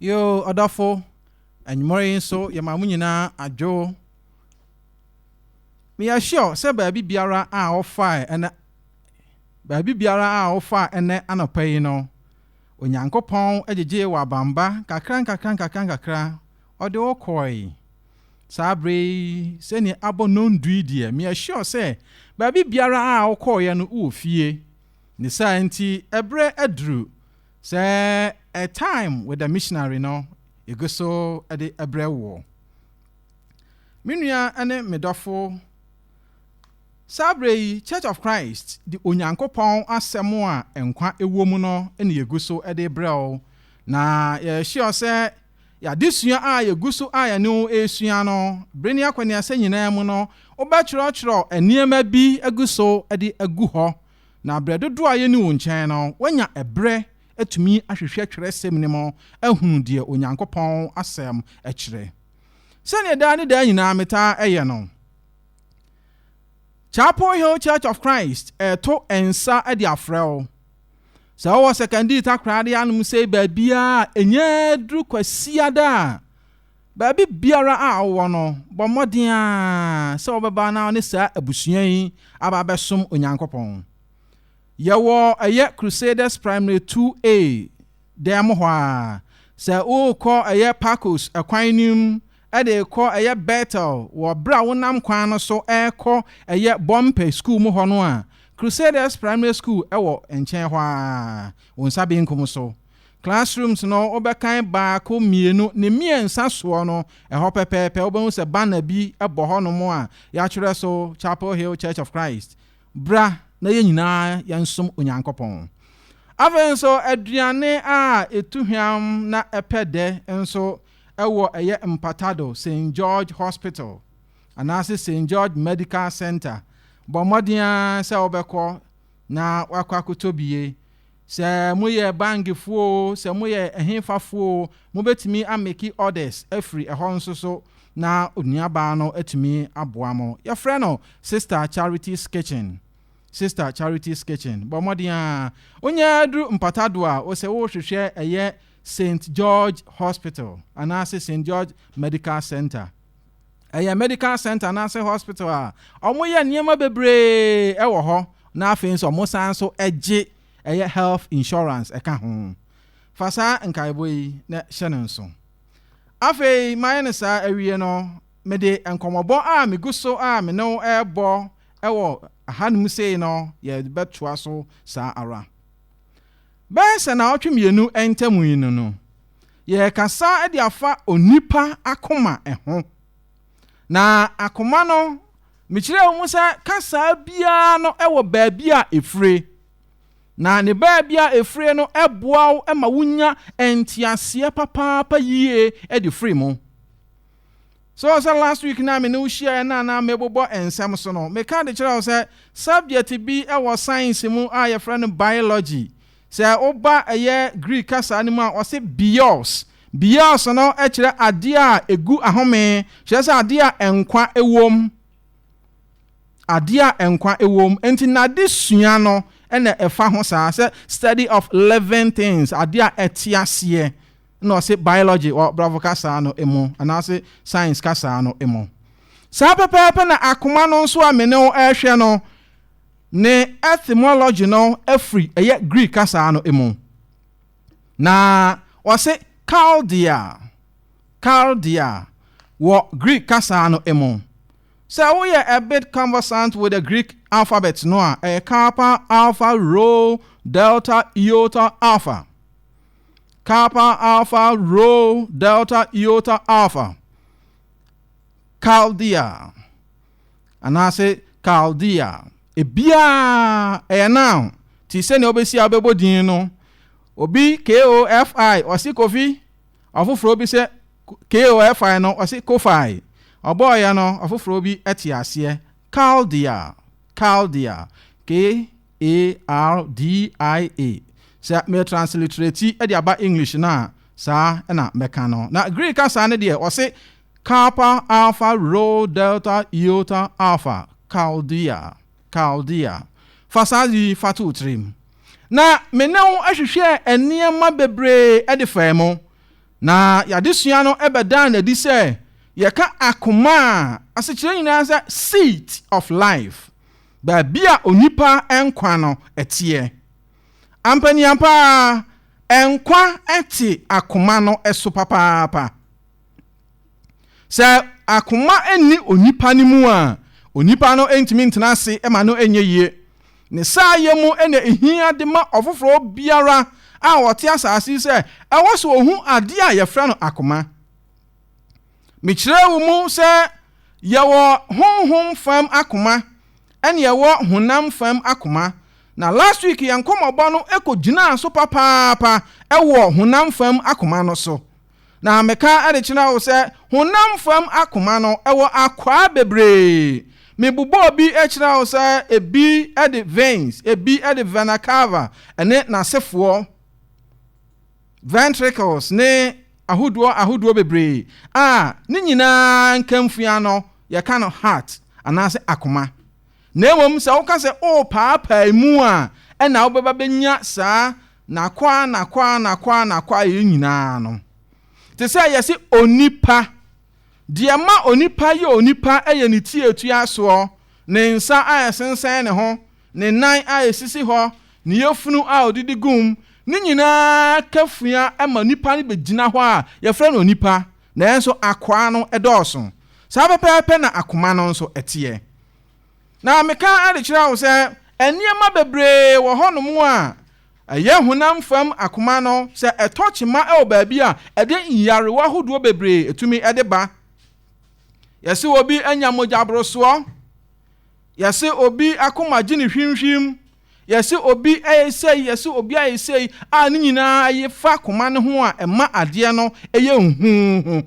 Yo, ɔdɔfo, anwummere yi nso yɛma mo nyinaa adwo. Meyɛ sure sɛ baabi biara a wɔfae ɛnɛ baabi biara a wɔfae ɛnɛ anɔpa yi no, Onyankopɔn agyegye wɔ abamba kakra nkakra nkakra nkakra ɔde wo kɔe. Saa bere yi, sɛnea abɔ nnɔndu yi deɛ, meyɛ sure sɛ baabi biara a wokɔeɛ no wowɔ fie. Ne saa nti, ɛberɛ aduru sɛ A Time with the Missionary no, yɛgu so de brɛ woɔ. Me nua ne me dɔfo, saa bere yi, Church of Christ de Onyankopɔn Asɛm a nkwa wɔ mu no na yɛgu so de brɛ wo, na yɛyɛ sure sɛ Yɛ adesua a yegu so a yɛne wo resua no. Bere ne akɔneasa nyinaa mu no, wobɛkyerɛwkyerɛw nneɛma bi agu so de agu hɔ, na bere dodow a yenni wo nkyɛn no, woanya bere atumi ahwehwɛ Kyerɛwsɛm no mu ahunu deɛ Onyankopɔn Asɛm kyerɛ. Sɛnea daa ne daa nyinaa metaa yɛ no, Chapel Hill Church of Christ reto nsa de afrɛ wo. Sɛ ɔwɔ sɛkɛndii takoradi anom sei baabiara a, ɛnya duru kwasiada a, baabi biara a ɔwɔ no, bɔ mmɔden a sɛ ɔbɛba na ɔne saa abusua yi aba abɛsom Onyankopɔn. Yɛwɔ ɛyɛ Crusaders Primary 2A dan mu hɔ a. Sɛ worekɔ ɛyɛ Pacos ɛkwan no mu de rekɔ ɛyɛ Betel wɔ bere a wonam kwan no so rekɔ ɛyɛ Bɔmpɛ Sukuu mu hɔ no a, Crusaders Primary School wɔ nkyɛn hɔ ara, wo nsa benkum so. Classrooms no, wobɛkan baako, mmienu, ne mmiɛnsa soɔ no, ɛhɔ pɛpɛɛpɛ wobɛhu sɛ banner bi bɔ hɔnom a yɛatwerɛ so Chapel Hill Church of Christ, Bra na yɛn nyinaa yɛnsom Onyankopɔn. Afei nso, aduane a ɛtu hwam na ɛpɛ dɛ nso wɔ ɛyɛ mpatado Saint George Hospital anaase Saint George Medical Centre bɔ mmɔden ara sɛ wobɛkɔ na woakɔ akotɔ bi ye. Sɛ mo yɛ bange foɔ oo, sɛ mo yɛ ɛhefa foɔ oo, mo bɛtumi a meki orders afiri ɛhɔ nso so na onua baa no atumi aboa mo. Yɛfrɛ no Sister Charity's Kitchen. Sister Charity's Kitchen, bɔ mmɔden ara wonyɛ duru mpatado a, wo sɛ wo hwehwɛ ɛyɛ Saint George Hospital anaase Saint George Medical Centre. Ɛyɛ medical centre anaase hospital a ɔmo yɛ nneɛma bebree ɛwɔ hɔ na afei nso ɔmo san nso ɛgye ɛyɛ health insurance ɛka ho. Fa saa nkaebɔ yi na hyɛ no nso. Afei mayɛ no saa awie no, mede nkɔmɔbɔ a megu so a me ne wo ɛɛbɔ ɛwɔ ahanom sei no yɛɛbɛtoa so saa ara. Bɛyɛ sɛ naawɔtwe mmienu ntam yi no no, yɛrekasa de afa onipa akoma ho. Na akoma no, mekyerɛɛ mu sɛ kasaa biara no wɔ baabi a efire. Na ne baabi a efire no boa wo ma wunya nteaseɛ papaapa yie de firi mu. So ɔwɔ sɛ last week na me ne wo hyiaeɛ na na mebobɔ nsɛm so no, meka de kyerɛ wo sɛ subject bi wɔ science mu a yɛfrɛ no biology. Sɛ woba ɛyɛ Greek kasa no mu a, ɔse bios. Bios no kyerɛ adeɛ a ɛgu ahome, kyerɛ sɛ adeɛ a nkwa ɛwom. Adeɛ a nkwa ɛwom. Nti nade sua no na ɛfa ho saa, sɛ study of living things, adeɛ a ɛte aseɛ. na ɔse biology wɔ Brɔfo kasaa no mu anaase science kasaa no mu. Saa pɛpɛɛpɛ na akoma no nso a me ne wo rehwɛ no ne etymology no firi ɛyɛ Greek kasaa no mu. Na ɔse Chaldea, Chaldea wɔ Greek kasaa no mu. Sɛ woyɛ a bit conversant with the Greek alphabet no a, ɛyɛ Kappa, Alpha, Rho, Delta, Iota, Alpha. Kappa Alpha Rho Delta Iota Alpha, Chaldea, anaase Chaldea. Ebiaa ɛyɛ now ti sɛnea wobɛsi a wobɛbɔ din no. Obi KOFI, ɔse Kofi. Ɔfoforɔ bi sɛ KOFI no, ɔse Kofi. Ɔbɔɔyɛ no, ɔfoforɔ bi ɛte aseɛ. Chaldea, Chaldea, K. ARDIA, Sɛ me transliterati de aba English no a, saa na mɛka no. Na Greek kasa no deɛ, wɔse Kappa Alpha Rho Delta Iota Alpha, Chaldea, Chaldea. Fa saa adze yi fa to wo tsirm. Na me ne wo hwehwɛɛ nneɛma bebree de faa mu, na y'adesua no bɛdaa no adi sɛ yɛka akoma a asekyerɛ nyinaa sɛ seat of life. Baabi a onipa nkwa no teɛ. Ampaniapa ara, nkwa te akoma no so papaapa. Sɛ akoma nni onipa no mu a, onipa no ntumi ntena ase ma no nyɛ yie. Ne saayɛ mu na ehia de ma ɔfoforɔ biara a ɔte asase sɛ ɛwɔ sɛ ɔhu adeɛ a yɛfrɛ no akoma. Mekyerɛɛ wo mu sɛ yɛwɔ honhom fam akoma ɛne yɛwɔ honam fam akoma, na last week yɛn nkɔmmɔbɔ no kɔgyinaa so papaapa wɔ honam fam akoma no so. Na meka de kyerɛ wo sɛ honam fam akoma no wɔ akwaa bebree. Mebobɔɔ bi kyerɛ wo sɛ ebi de veins, ebi de vena cava ne n'asefoɔ. ventricles ne ahodoɔ ahodoɔ bebree a ne nyinaa nkamfua no yɛka no heart anaasɛ akoma na mmom sɛ woka sɛ worepaapaa mu a ɛna wobɛba bɛnya saa nakwaa nakwaa nakwaa nakwaa yɛ nyinaa no te sɛ yɛse onipa deɛ ma onipa yɛ onipa yɛ ne tiatua soɔ ne nsa a ɛsensɛn ne ho Ne nan a esisi hɔ, ne yafunu a odidi gum, ne nyinaa ka fua ma nipa no begyina hɔ a, wɔfrɛ no onipa. Nanso akwaa no dɔɔso. Saa pɛpɛɛpɛ na akoma no nso teɛ. Na meka de kyerɛ wo sɛ, nneɛma bebree wɔ hɔnom a ɛyɛ honam fam akoma no, sɛ ɛtɔ kyema wɔ baabi a, ɛde nyarewa hodoɔ bebree tumi de ba. Yɛse obi anya mogyaborosoɔ. Yɛse obi akoma gye no hwimhwim, yɛse obi ɛyɛ sei, yɛse obi ayɛ sei, a ne nyinaa ɛye fa koma no ho a ɛma adeɛ no ɛyɛ nhuuhu.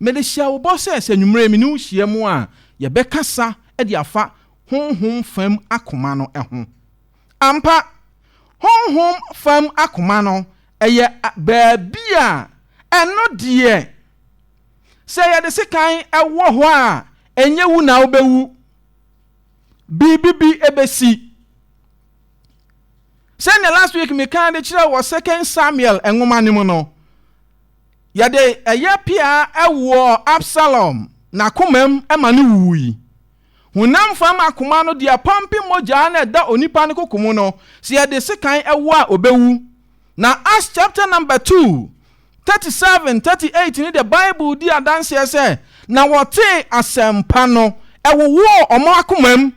Mede hyɛ wo bɔ sɛ, sɛ anwummerɛ yi me ne wo hyia mu a, yɛbɛkasa de afa honhom fam akoma no ho. Ampa, honhom fam akoma no ɛyɛ baabi a ɛno deɛ Sɛ yɛde sekan wɔ hɔ a, ɛnyɛ wu na wobɛwu. Biribi bi bɛsi. Sɛnea last week mekaa de kyerɛ wɔ Second Samuel nwoma no mu no, yɛde ɛyɛ pea wɔ Absalom n'akomam ma no wuwui. Honam fam akoma no deɛ pɔmpe mogya na ɛda onipa no koko mu no, sɛ yɛde sekan wɔ a ɔbɛwu. Na Acts chapter number two 37, 38 no de Bible di adanseɛ sɛ, Na wɔtee asɛmpa no, ɛwowɔɔ wɔn akomam.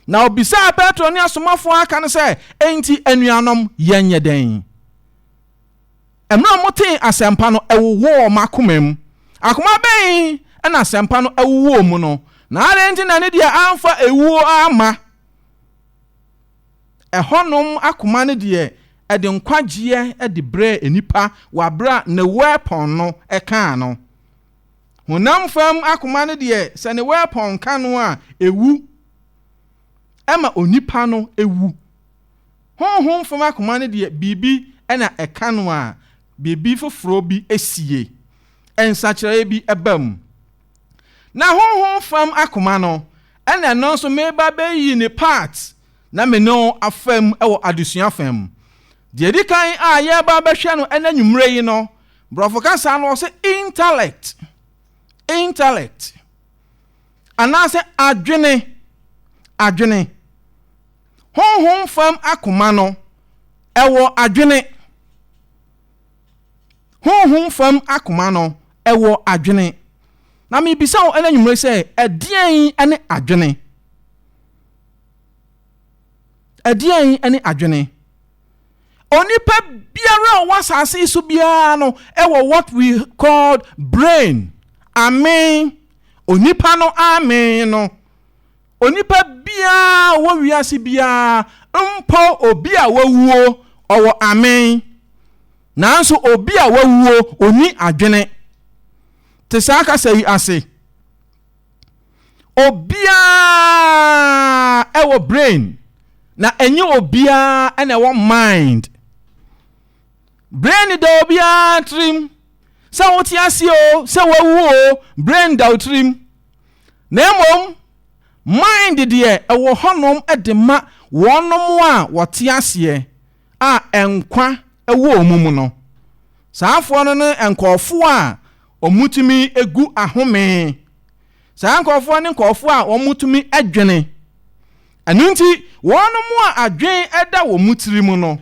Na ɔbisaa Petro ne asomafoɔ a aka no sɛ, Enti anuanom, yɛnyɛ dɛn? Mmerɛ wɔtee asɛmpa no, ɛwowɔɔ wɔn akomam. Akoma bɛn na asɛmpa no wowɔɔ mu no, na adɛn nti na ne deɛ amfa ewuo amma? Ɛhɔnom akoma no deɛ ɛde nkwagyeɛ de brɛɛ nnipa wɔ aberɛ a ne weapon no kaa no. Honam fam akoma no deɛ sɛ ne weapon ka no a ɛwu, ɛma onipa no wu. Honhom fam akoma no deɛ biribi na ɛka no a biribi foforɔ bi sie, nsakyeraeɛ bi ba mu. Na honhom fam akoma no, ɛna ɛno nso meba abɛyi ne part na me ne wo afa mu wɔ adesua fa mu. Deɛ ɛdi kan a yɛreba abɛhwɛ no ɛna nwummerɛ yi no, borɔfo kasa no ɔsɛ intellect, intellect, anaasɛ adwene, adwene. Honhom fam akoma no, ɛwɔ adwene. Honhom fam akoma no, ɛwɔ adwene. Na mebisa wo ɛna nwumere sɛ, ɛdeɛn ɛne adwene? Ɛdeɛn ɛne adwene? Onipa biara a ɔwɔ asase so biara no ɛwɔ what we called brain. Amen. Onipa no amen no Onipa biara a ɔwɔ wiase biara, mpo obi a wawuo, ɔwɔ amen. Nanso obi a wawuo, ɔnni adwene. Te saa kasa yi ase. Obiara ɛwɔ brain, na ɛnyɛ obiara na ɛwɔ mind. Brain da obiara tirim, sɛ wote ase o, sɛ wawu o, brain da wo tirim. Na mmom, mind deɛ ɛwɔ hɔnom de ma wɔnom a wɔte aseɛ a nkwa wɔ wɔn mu no. Saafoɔ no ne nkurɔfoɔ a wɔtumi gu ahome. Saa nkurɔfoɔ ne nkurɔfoɔ a wɔtumi dwene. Ɛno nti, wɔnom a adwen da wɔn mu tiri mu no,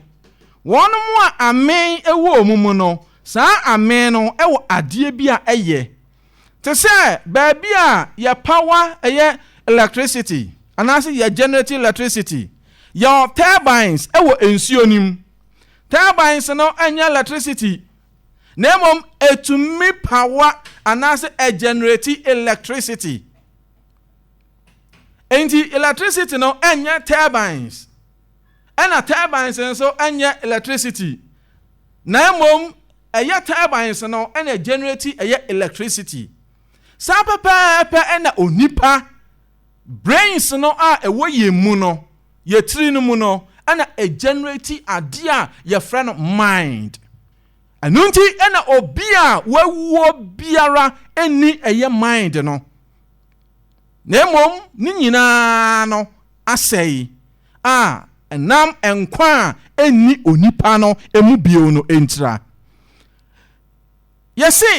wɔnom a ameen wɔ wɔn mu no, saa ameen no wɔ adeɛ bi a ɛyɛ te sɛ baabi a yɛ pawa, ɛyɛ electricity, anaase yɛ generate electricity. Yɛwɔ turbines wɔ nsuo no mu. Turbines no nyɛ electricity, na mmom ɛtumi pawa anaase ɛgenerate electricity. Enti electricity no ɛnyɛ turbines, ɛna turbines nso ɛnyɛ electricity, na mmom ɛyɛ turbines no ɛna ɛgenerate ɛyɛ electricity. Saa pɛpɛɛpɛ ɛna onipa brains no a ɛwɔ yɛn mu no, yɛ tiri no mu no, ɛna ɛgenerate adeɛ a yɛfrɛ no mind. Ɛno nti ɛna obi a wawuo biara ɛni ɛyɛ mind no. na mmom ne nyinaa no asɛe a ɛnam nkwa a enni onipa no mu bio no ntira. Yɛse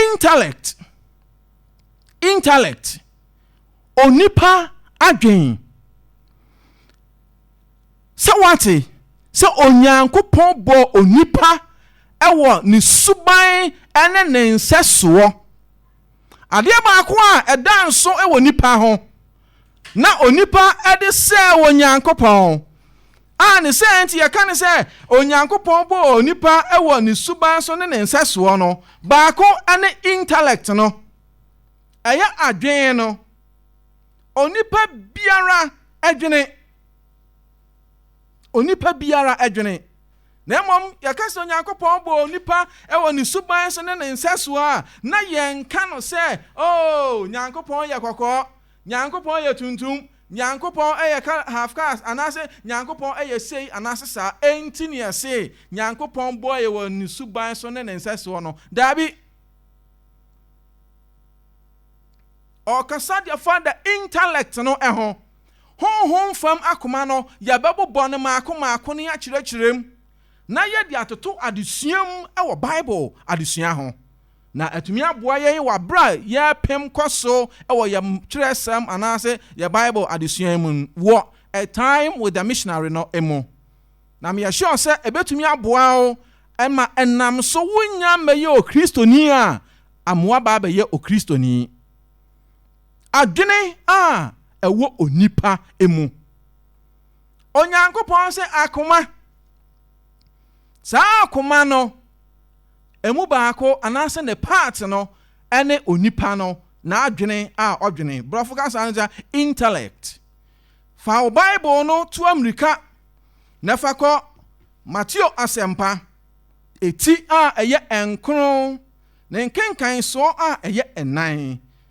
intellect, intellect, onipa adwen. Sɛ wate sɛ Onyankopɔn bɔɔ onipa wɔ ne suban ne ne nsɛsoɔ Adeɛ baako a ɛda nso wɔ nnipa ho na onipa de sɛɛ Onyankopɔn, a ne sɛ nti yɛka ne sɛ Onyankopɔn bɔɔ onipa wɔ ne suban so ne ne nsɛsoɔ no, baako ne intellect no, ɛyɛ adwene no. Onipa biara adwene. onipa biara adwene, na mmom yɛka sɛ Onyankopɔn bɔɔ onipa wɔ ne suban so ne ne nsɛsoɔ a, na yɛnka no sɛ, Oh, Nyankopɔn yɛ kɔkɔɔ, Nyankopɔn yɛ tuntum, Nyankopɔn yɛ ka half cast, anaase Nyankopɔn yɛ sei anaase saa, enti ne yɛse Nyankopɔn bɔɔ yɛ wɔ ne suban so ne ne nsɛsoɔ no. Daabi. Ɔɔkasa deɛ fa da intellect no ho. Honhom fam akoma no, yɛbɛbobɔ no mmaako mmaako na yɛakyerɛkyerɛ mu, na yɛde atoto adesua mu wɔ Bible adesua ho. Na atumi aboa yɛn wɔ bere a yɛrepem kɔ so wɔ yɛn twerɛsɛm anaasɛ yɛn Bible adesua mu no wɔ A Time with the Missionary no mu. Na meyɛ sure sɛ ɛbɛtumi aboa wo ma ɛnam so wonnya mmɛyɛ Okristoni a amoa ba abɛyɛ Okristoni. adwene a ɛwɔ onipa mu. Onyankopɔn sɛ akoma. Saa akoma no, emu baako anaasɛ ne part no ne onipa no n'adwene a ɔdwene. Borɔfo kasa no sɛ intellect. Fa wo Bible no to amirika na fa kɔ Mateo asɛmpa eti a ɛyɛ nkron ne nkenkansoɔ a ɛyɛ nnan.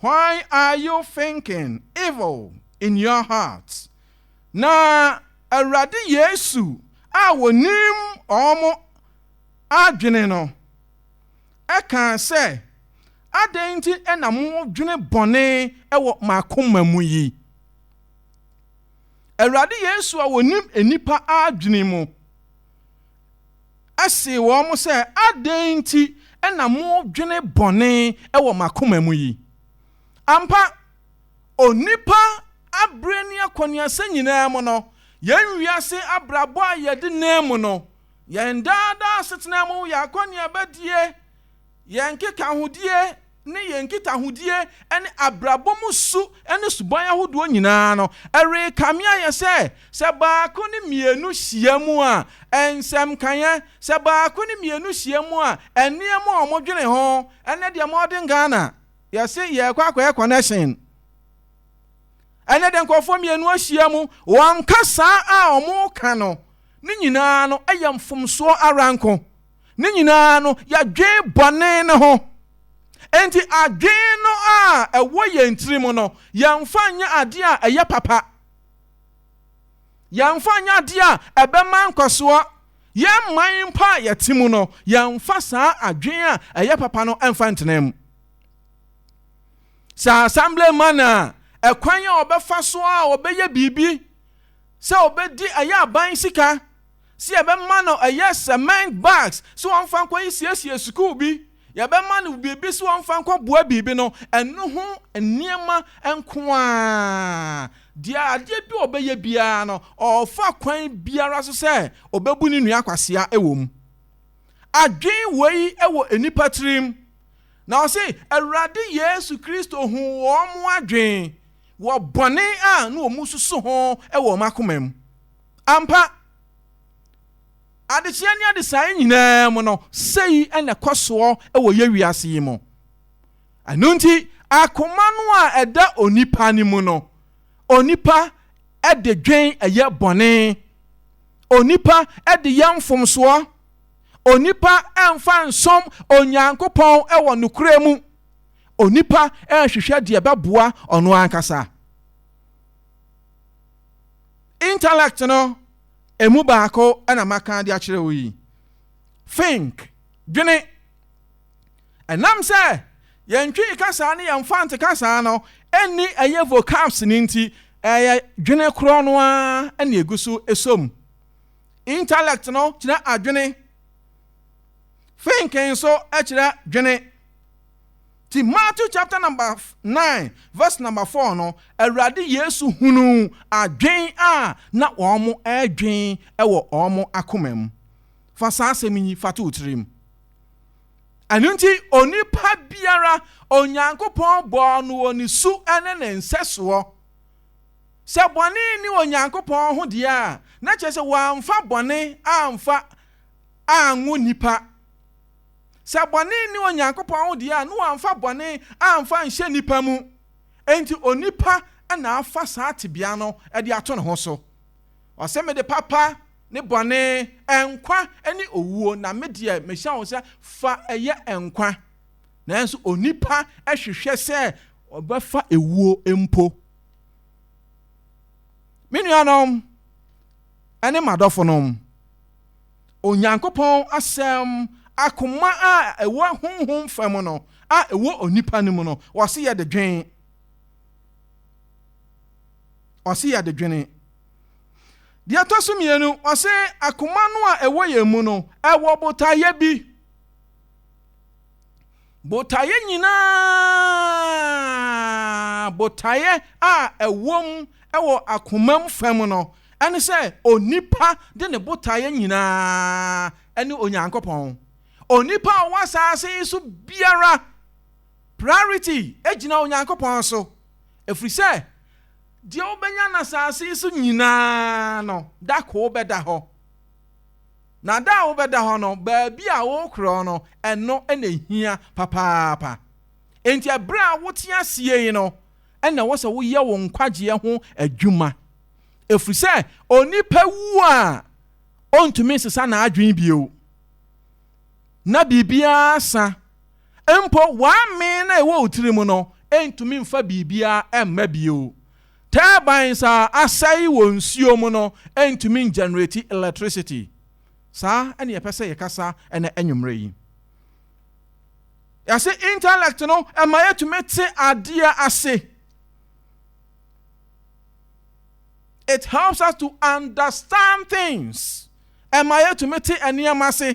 Why are you thinking evil in your heart? Na Awurade Yesu a ɔnim wɔn adwene no kaa sɛ, Adɛn nti na modwene bɔne wɔ m'akoma mu yi? Awurade Yesu a ɔnim nnipa adwene mu. see wɔn sɛ, Adɛn nti na modwene bɔne wɔ mo akoma mu yi? Ampa, onipa abere ne akɔneasa nyinaa mu no, yɛn wiase abrabɔ a yɛde nam mu no, yɛn daa daa asetena mu, yɛn akɔneabadie, yɛn nkekahodie, ne yɛn nkitahodie ne abrabɔ mu su ne suban ahodoɔ nyinaa no, ɛrekame ayɛ sɛ, sɛ baako ne mmienu hyia mu a, nsɛm nkaeɛ, sɛ baako ne mmienu hyia mu a, nneɛma a wɔdwene ho. Ɛnnɛ deɛ modern Ghana, yɛse yɛrekɔ akɔyɛ connection. Ɛnnɛ deɛ nkurɔfoɔ mmienu ahyia mu, wɔnka saa a wɔreka no ne nyinaa no yɛ mfomsoɔ ara nko. Ne nyinaa no, yɛdwen bɔne no ho. Enti adwene no a ɛwɔ yɛn tirim no, yɛmfa nyɛ adeɛ a ɛyɛ papa. Yɛmfa nyɛ adeɛ a ɛbɛma nkɔsoɔ. Yɛn man mpo a yɛte mu no, yɛmfa saa adwene a ɛyɛ papa no mfa ntena mu. Sɛ assemblyman a, ɛkwan a ɔbɛfa so a ɔbɛyɛ biribi sɛ ɔbɛdi ɛyɛ aban sika, Sɛ yɛbɛma no ɛyɛ cement bags sɛ ɔmfa nkɔ nsiesie sukuu bi, yɛbɛma no biribi sɛ ɔmfa nkɔ boa biribi no, ɛno ho nneɛma nko ara, deɛ adeɛ bi a ɔbɛyɛ biara no, ɔrefa kwan biara so sɛ ɔbɛbu ne nua kwasea wɔ mu. Adwene wei wɔ nnipa tirim. Na ɔse, Awurade Yesu Kristo huu wɔn adwene wɔ bɔne a na wɔsusu ho wɔ wɔn akoma mu. Ampa, adekyee ne adesae nyinaa mu no, sei na ɛkɔ soɔ wɔ yɛ wiase yi mu. Ɛno nti, akoma no a ɛda onipa no mu no, onipa de dwen ɛyɛ bɔne, onipa de yɛ mfomsoɔ, onipa mfa nsom Onyankopɔn wɔ nokorɛ mu, onipa hwehwɛ deɛ ɛbɛboa ɔno ankasa. Intellect no ɛmu baako na maka de akyerɛ wo yi. Think, dwene. Ɛnam sɛ yɛn Twi kasaa ne yɛn Fante kasaa no ɛnni ɛyɛ vocabs no nti, ɛyɛ dwene korɔ no ara ɛna ɛgu so ɛsom. Intellect no kyerɛ adwene. Think nso ɛkyerɛ dwene. Ntsi Matthew chapter number nine verse number four no, Ewuradze Yesu hunuu adwen a na wɔrodwen wɔ hɔn akoma mu. Fa saa asɛm yi fa to wo tsir mu. Ɛno ntsi onipa biara, Onyankopɔn bɔɔ no wɔ ne su ne ne nsɛsoɔ. Sɛ bɔne nni Onyankopɔn ho deɛ a, na kyerɛ sɛ wɔamfa bɔne amfa anwo nipa. Sɛ bɔne nni Onyankopɔn ho deɛ a, na wɔamfa bɔne amfa anhyɛ nnipa mu. Enti onipa na afa saa tebea no de ato ne ho so. Ɔse, Mede papa ne bɔne, nkwa ne owuo, na me deɛ mehyɛ wo sɛ fa yɛ nkwa. Nanso onipa hwehwɛ sɛ ɔbɛfa ewuo mpo. Me nuanom ne m'adɔfonom, Onyankopɔn Asɛm, akoma a ɛwɔ honhom fam no a ɛwɔ onipa no mu no, ɔse yɛde dwen. Ɔse yɛde dwene. Deɛ ɛtɔ so mmienu, ɔse akoma no a ɛwɔ yɛn mu no, ɛwɔ botaeɛ bi. Botaeɛ nyinaa botaeɛ a ɛwom wɔ akomam fam no ne sɛ onipa de ne botaeɛ nyinaa ne Onyankopɔn. Onipa a ɔwɔ asaase yi so biara priority gyina Onyankopɔn so, ɛfiri sɛ deɛ wobɛnya no asaase yi so nyinaa no, da koro bɛda hɔ. Na da a wobɛda hɔ no, baabi a wokorɔn no, ɛno na ehia papaapa. Enti bere a wote ase yi no na ɛwɔ sɛ woyɛ wo nkwagyeɛ ho adwuma, ɛfiri sɛ onipa wu a, ɔntumi nsesa n'adwene bio, na biribiara sa. Mpo w'amee no a ɛwɔ wo tirim no ntumi mfa biribiara mma bio. Turbines a asɛe wɔ nsuo mu no ntumi ngyɛnereti electricity. Saa na yɛpɛ sɛ yɛkasa ɛnɛ anwummerɛ yi. Yɛse intellect no ɛma yɛtumi te adeɛ ase. It helps us to understand things. Ɛma yɛtumi te nneɛma ase.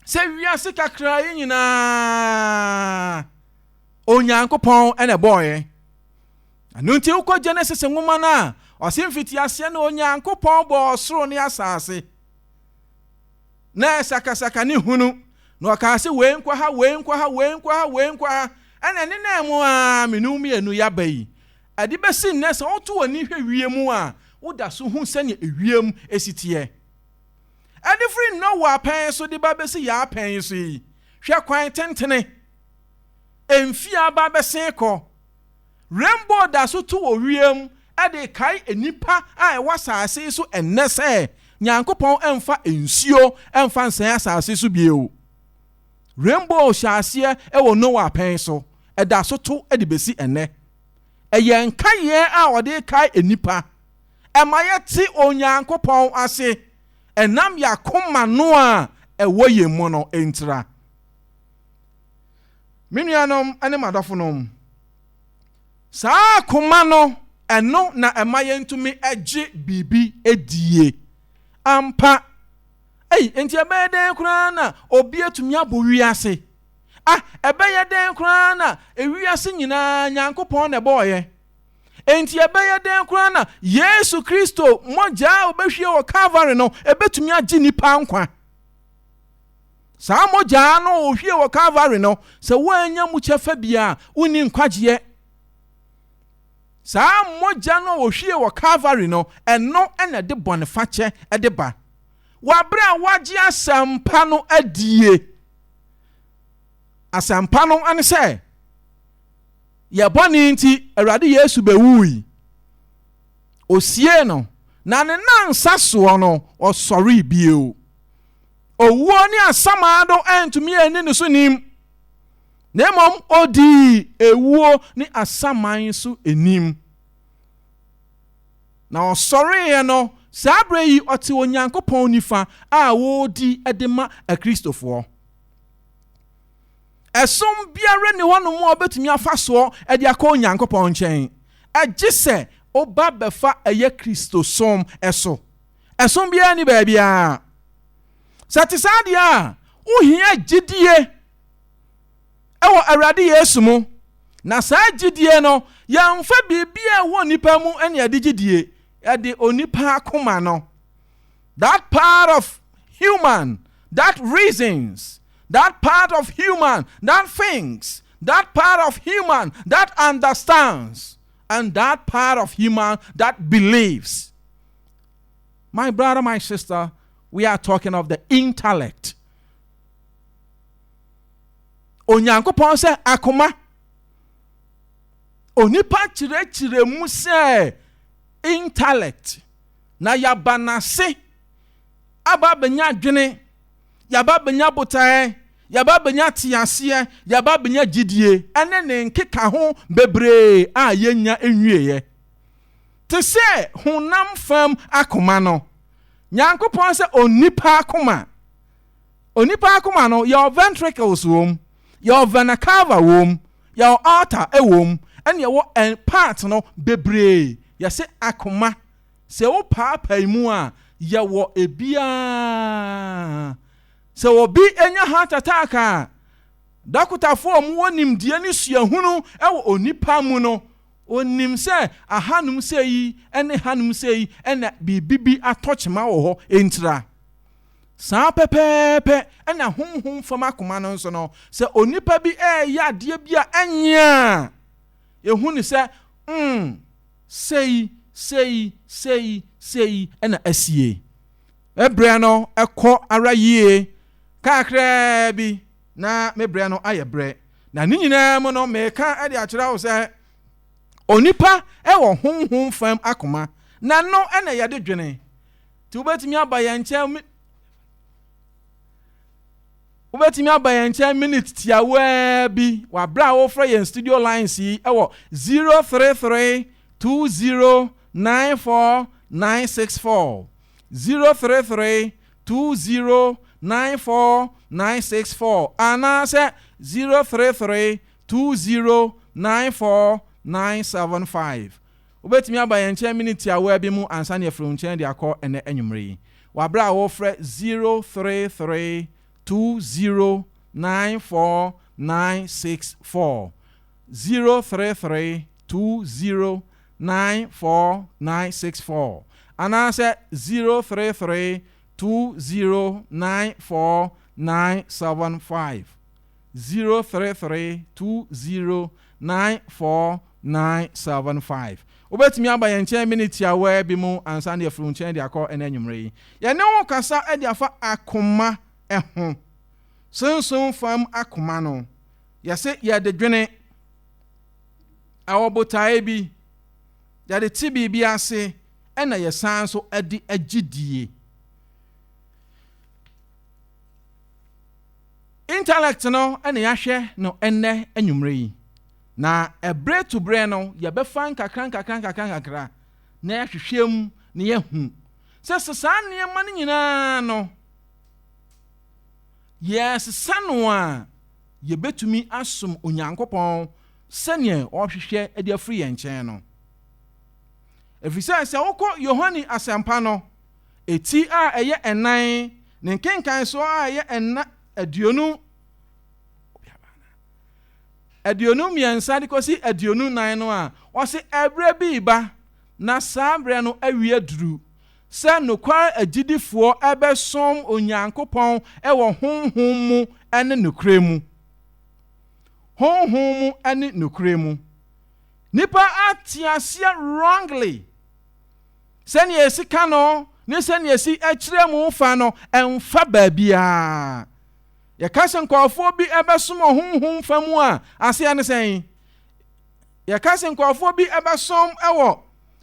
Sɛ wiase kakra yi nyinaa Onyankopɔn na ɛbɔɔ yɛn. Ɛno nti wokɔ Genesis nwoma no a, ɔse mfitiaseɛ no Onyankopɔn bɔɔ ɔsoro ne asase. Na ɛsakasaka ne hunu, na ɔkaa se wei nkɔ ha, wei nkɔ ha, wei nkɔ ha, wei nkɔ ha. Ɛna ɛnenaa mu aa mmienu mmienu yɛaba yi. Ɛde bɛsi nnɛ sɛ woto w'ani hwɛ wiem a, woda so hu sɛnea ewiem si teɛ. Ɛde firi Noa pɛn so de ba bɛsi yɛn apɛn yi so yi, hwɛ kwan tentene! Mfe aba bɛsen kɔ. Rainbow da so tu wɔ wiem de kae nnipa a ɛwɔ asase yi so nnɛ sɛ Nyankopɔn mfa nsuo mfa nsɛe asase yi so bio. Rainbow hyɛɛ aseɛ wɔ Noah pɛn so, ɛda so to de bɛsi nnɛ. Ɛyɛ nkaeɛ a wɔde rekae nnipa. Ɛma yɛte Onyankopɔn ase ɛnam yɛn akoma no a ɛwɔ yɛn mu no ntira. Me nuanom ne m'adɔfonom, saa koma no, ɛno na ɛma yɛntumi gye biribi die. Ampa. Ei, enti ɛbɛyɛ dɛn koraa na obi atumi abɔ wiase? Ah, ɛbɛyɛ dɛn koraa na wiase nyinaa Nyankopɔn na ɛbɔɔyɛ? Enti ɛbɛyɛ dɛn koraa na Yesu Kristo mogya a obehwie wɔ Calvary no ebetumi agye nipa nkwa? Saa mogya no a ohwie wɔ Kalvary no, sɛ woannya mu kyɛfa bi a, wonni nkwagyeɛ. Saa mogya no a ohwie wɔ Kalvary no, ɛno na ɛde bɔnefakyɛ de ba. Wɔ berɛ a woagye asɛmpa no adie, asɛmpa no ne sɛ, yɛ bɔne nti, Awurade Yesu bɛwuui. Ɔsiee no, na ne nansa soɔ no, ɔsɔree bio. owuo ne asamado antumi anni ne so nim, na mmom odii ewuo ne asaman so nim. Na ɔsɔreeɛ no, saa berɛ yi ɔte Onyankopɔn nifa a wɔredi de ma Akristofoɔ. Ɛsom biara nni hɔ nom a ɔbɛtumi afa soɔ de akɔ Onyankopɔn nkyɛn, gye sɛ woba bɛfa ɛyɛ Kristosom so. Ɛso biara nni baabiara. Sɛ ɛte saa deɛ a, wohia gyidie wɔ Awurade Yesu mu. Na saa gyidie no, yɛmfa biribi a ɛwɔ onipa mu ne ɛde gyidie, ɛde onipa akoma no. That part of human that reasons, that part of human that thinks, that part of human that understands, and that part of human that believes. My brother, my sister, we are talking of the intellect. Onyankopɔn sɛ akoma. Onipa kyerɛkyerɛ mu sɛ intellect. Na yaba n'ase aba abɛnya adwene, yaba abɛnya botaeɛ, yaba abɛnya teaseɛ, yaba abɛnya gyidie, ɛne ne nkeka ho bebree a yɛnya nwieɛ. Te sɛ honam fam akoma no, Nyankopɔn sɛ onipa akoma. Onipa akoma no, yɛwɔ ventricles wom, yɛwɔ vena cava wom, yɛwɔ aorta wom, ɛne yɛwɔ ɛn part no bebree. Yɛse akoma, sɛ wo paapae mu a, yɛwɔ ebiaa. Sɛ obi nya heart attack a, dɔkotafoɔ a wɔwɔ nimdeɛ ne suahunu wɔ onipa mu no, Onim sɛ ahanom sei yi ne hanom sei yi na biribi bi atɔ kyema wɔ hɔ ntira. Saa pɛpɛɛpɛ na honhom fam akoma no nso no, sɛ onipa bi reyɛ adeɛ bi a ɛnyɛ a, yɛhu no sɛ, mm, sei, sei, sei, sei na asie. Ɛberɛ no kɔ ara yie kakraa bi. na me berɛ no ayɛ berɛ, na ne nyinaa mu no meka de akyerɛ wo sɛ onipa wɔ honhom fam akoma, na ɛno na yɛde dwene. Nti wobɛtumi aba yɛn nkyɛn mi wobɛtumi aba yɛn nkyɛn minute tiawaa bi wɔ abere a wofrɛ yɛn studio lines yi wɔ 033 20 94 964 033 2094964 anaasɛ 0332094975. Wobɛtumi aba yɛn nkyɛn minute tiawaa bi mu ansa na yɛafiri wo nkyɛn de akɔ ɛnnɛ anwummere yi. Wɔ aberɛ a worefrɛ 0332094964, 0332094975. nine four nine six four anaasɛ zero three three two zero nine four nine seven five zero three three two zero nine four nine seven five. Wobɛtumi aba yɛn nkyɛn minit tiawaa bi mu ansa na yɛafiri wo nkyɛn de akɔ ɛnɛ anwummerɛ yi. Yɛne wo kasa de afa akoma ho. Sunsum fam akoma no, yɛse yɛde dwene Wɔ botae bi, yɛde te biribi ase na yɛsan nso de agye die. Intellect no na yɛahwɛ no ɛnnɛ anwummerɛ yi, na ɛberɛ to berɛ no yɛbɛfa nkakra nkakra nkakra nkakra na yɛahwehwɛ mu na yɛahu sɛ sɛ saa nneɛma no nyinaa no yɛsesa no a yebetumi asom Onyankopɔn sɛnea ɔhwehwɛ de afiri yɛn nkyɛn no. Efisɛ sɛ wokɔ Yohane Asɛmpa no, eti a ɛyɛ ɛnan, ne nkenkanso a ɛyɛ ɛna aduonu aduonu mmiɛnsa de kɔsi aduonu nan no a, ɔse ɛberɛ bi reba na saa berɛ no awie aduru. sɛ nokware agyidifoɔ bɛsom Onyankopɔn wɔ honhom mu ne nokorɛ mu. Honhom mu ne nokorɛ mu. Nnipa ate aseɛ wrongly. Sɛnea ɛsi ka no ne sɛnea ɛsi kyerɛ mu fa no, ɛmfa baabiara. Yɛka sɛ nkurɔfoɔ bi bɛsom honhom fa mu a, aseɛ ne sɛn? Yɛka sɛ nkurɔfoɔ bi bɛsom wɔ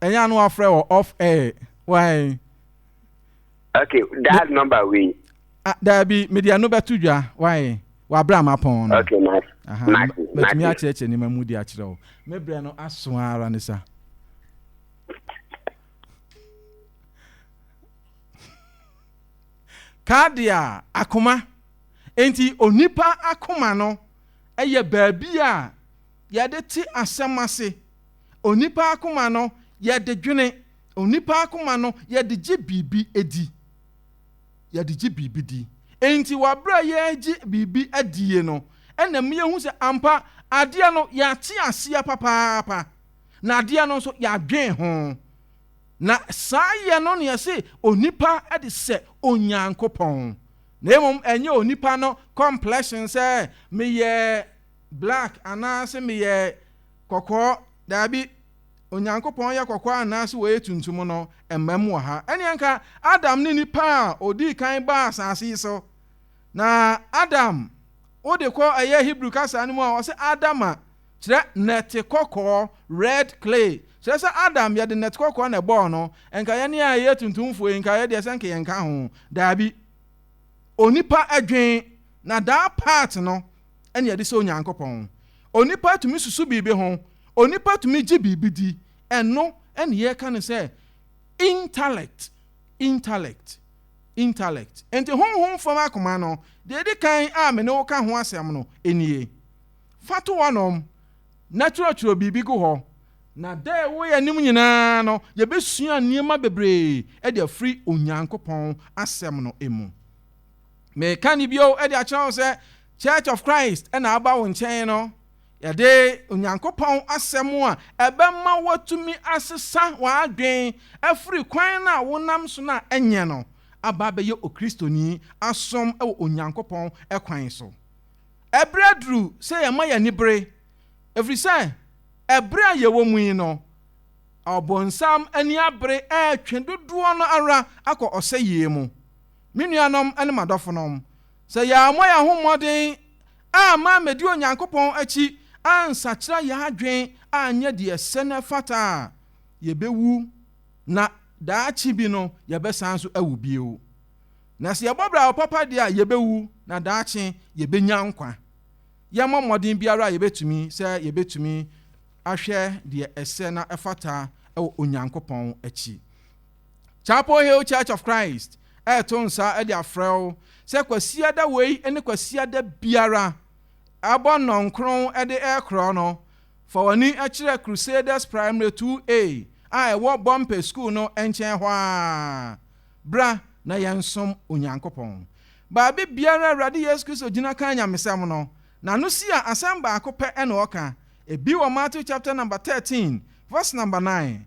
Ɛnyɛ ano wafrɛ wɔ off air why. Okay dial number wei. Ah daabi mede ɛno bɛto dwa why wabere a mapɔn no. Okay ma mate mate. Matumi akyerɛkyerɛ nneɛma mu de akyerɛ wo. Me brɛ no aso ara ne sa. Kadia akoma enti onipa akoma no ɛyɛ baabi a yɛde te asɛm ase. Onipa akoma no yɛ de dwene. Onipa akoma no yɛ de gye biribi di. Yɛ de gye biribi di. Enti wɔ bere a yɛregye biribi adie no, ɛna mu yɛhu sɛ ampa adeɛ no yɛate aseɛ papaapa. Na adeɛ no nso yɛadwen ho. Na saa yɛ no na yɛse onipa de sɛ Onyankopɔn. Na mmom ɛnyɛ onipa no complexion sɛ meyɛ black anaase meyɛ Kɔkɔɔ, Dabi, Onyankopɔn yɛ kɔkɔɔ anaase ɔyɛ tuntum no, ɛmmam wɔ ha. Ɛnneɛ anka Adam ne nipa a ɔdii kan baa asase yi so. Na Adam, wode kɔ ɛyɛ Hebrew kasa no mu a, wɔse Adama, kyerɛ nɛte kɔkɔɔ, red clay. Kyerɛ sɛ Adam, yɛde nɛte kɔkɔɔ na ɛbɔɔ no. Ɛnka yɛne a yɛyɛ tuntumfoɔ yi, nka yɛ deɛ sɛ nka yɛnka ho. Dabi. Onipa adwen, na daa part no, ɛne adi sɛ Onyankopɔn. Onipa tumi susu biribi ho, onipa tumi gye biribi di, ɛno ɛne yɛka no sɛ intellect, intellect, intellect. Enti honhom fam akoma no, deɛ ɛdi kan a me ne wo ka ho asɛm no nie. Fa to hɔnom na twerɛtwerɛ biribi gu hɔ, na da a ɛwɔ yɛn anim nyinaa no yɛbɛsua nneɛma bebree de afiri Onyankopɔn asɛm no mu. Mereka no bio de akyerɛ wo sɛ Church of Christ na aba wo nkyɛn no. Yɛde Onyankopɔn Asɛm a ɛbɛma woatumi asesa w'adwene afiri kwan no a wonam so no a ɛnyɛ no aba abɛyɛ Okristoni asom wɔ Onyankopɔn kwan so. Ɛberɛ aduru sɛ yɛma yɛn ani bere, ɛfiri sɛ ɛberɛ a yɛwɔ mu yi no, Ɔbonsam ani abere retwe dodoɔ no ara akɔ ɔsɛeɛ mu. Me nuanom ne m'adɔfonom, sɛ yɛammɔ yɛn ho mmɔden amma ammedi Onyankopɔn akyi ansakyera yɛn adwene anyɛ deɛ ɛsɛ na ɛfata a, yɛbɛwu, na daakye bi no yɛbɛsan nso awu bio. Na sɛ yɛbɔ bra papa deɛ a, yɛbɛwu, na daakye yɛbɛnya nkwa. Yɛmmɔ mmɔden biara a yɛbɛtumi sɛ yɛbɛtumi ahwɛ deɛ ɛsɛ na ɛfata wɔ Onyankopɔn akyi. Chapel Hill Church of Christ reto nsa de afrɛ wo sɛ Kwasiada wei ne Kwasiada biara, bɔ nnɔnkron de rekorɔ no, fa w'ani kyerɛ Crusaders Primary 2A a ɛwɔ Bɔmpɛ Sukuu no nkyɛn hɔ ara. Bra na yɛnsom Onyankopɔn. Baabi biara a Awurade Yesu Kristo gyina ka nyamesɛm no, n'ano si a asɛm baako pɛ na ɔka. Ebi wɔ Matthew chapter number 13 verse number 9,